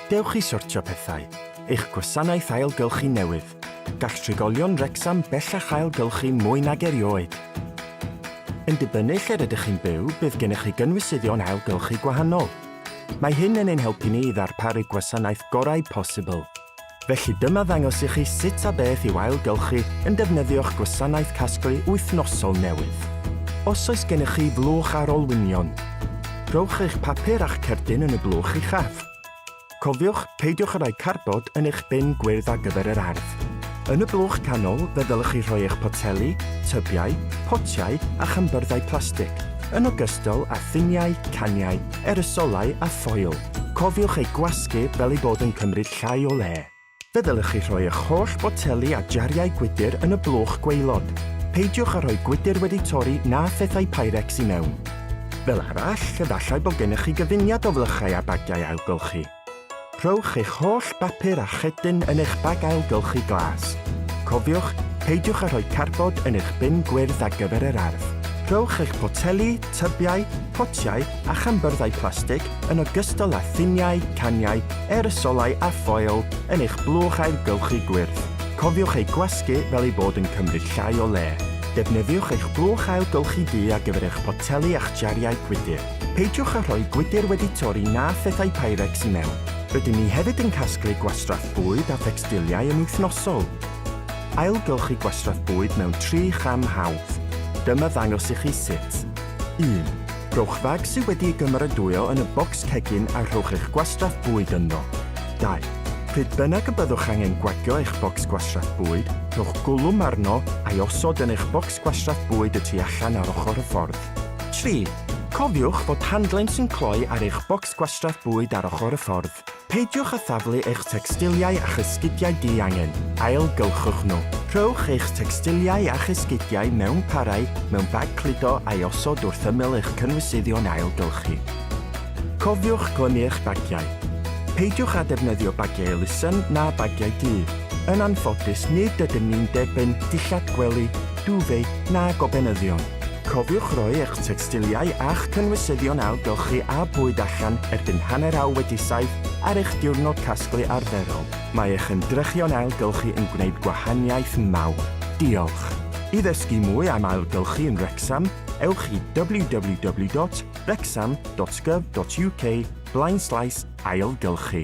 Dewch i sortio pethau, eich gwasanaeth ailgylchu newydd. Gall trigolion Wrecsam bellach ailgylchu mwy nag erioed. Yn dibynnu lle'r ydych chi'n byw, bydd gennych chi gynwysyddion ailgylchu gwahanol. Mae hyn yn ein helpu ni i ddarparu gwasanaeth gorau posibl. Felly dyma ddangos i chi sut a beth i'w ailgylchu yn defnyddio'ch gwasanaeth casglu wythnosol newydd. Os oes gennych chi flwch ar olwynion, rhowch eich papur a'ch cerdyn yn y blwch uchaf. Cofiwch, peidiwch â rhoi cardbord yn eich bin gwyrdd ar gyfer yr ardd. Yn y blwch canol, fe ddylech chi rhoi eich poteli, tybiau, potiau a chynbyrddau plastig, yn ogystal â thuniau, caniau, erysolau a ffoil. Cofiwch eu gwasgu fel eu bod yn cymryd llai o le. Fe ddylech chi rhoi eich holl boteli a jariau gwydr yn y blwch gwaelod. Peidiwch â rhoi gwydr wedi torri na phethau Pyrex i mewn. Fel arall, efallai bod gennych chi gyfuniad o flychau a bagiau ailgylchu. Rhowch eich holl bapur a cherdyn yn eich bag ailgylchu glas. Cofiwch, peidiwch â rhoi carbod yn eich bin gwyrdd ar gyfer yr ardd. Rhowch eich poteli, tybiau, potiau a chambyrddau plastig yn ogystal â thuniau, caniau, aerosolau a ffoil yn eich blwch ailgylchu gwyrdd. Cofiwch eu gwasgu fel eu bod yn cymryd llai o le. Defnyddiwch eich blwch ailgylchu du ar gyfer eich poteli a'ch jariau gwydr. Peidiwch â rhoi gwydr wedi torri na phethau Pyrex i mewn. Rydyn ni hefyd yn casglu gwastraff bwyd a thecstiliau yn wythnosol. Ailgylchu gwastraff bwyd mewn tri cham hawdd. Dyma ddangos i chi sut. 1. Rhowch fag sydd wedi'i gymeradwyo yn y bocs cegin a rhowch eich gwastraff bwyd ynddo. 2. Pryd bynnag y byddwch angen gwagio eich bocs gwastraff bwyd, rhowch gwlwm arno a'i osod yn eich bocs gwastraff bwyd y tu allan ar ochr y ffordd. 3. Cofiwch fod handlen sy'n cloi ar eich bocs gwastraff bwyd ar ochr y ffordd. Peidiwch â thaflu eich tecstiliau a'ch esgidiau di-angen, ailgylchwch nhw. Rhowch eich tecstiliau a'ch esgidiau mewn parau mewn bag cludo a'i osod wrth ymyl eich cynwysyddion ailgylchu. Cofiwch glymu eich bagiau. Peidiwch â defnyddio bagiau elusen na bagiau du. Yn anffodus, nid ydym ni'n derbyn dillad gwely, duvet na gobenyddion. Cofiwch roi eich tecstiliau a'ch cynwysyddion ailgylchu a bwyd allan erbyn hanner awr wedi saith ar eich diwrnod casglu arferol. Mae eich ymdrechion ailgylchu yn gwneud gwahaniaeth mawr. Diolch! I ddysgu mwy am ailgylchu yn Wrecsam, ewch i www.wrecsam.gov.uk blaenslaes ailgylchu.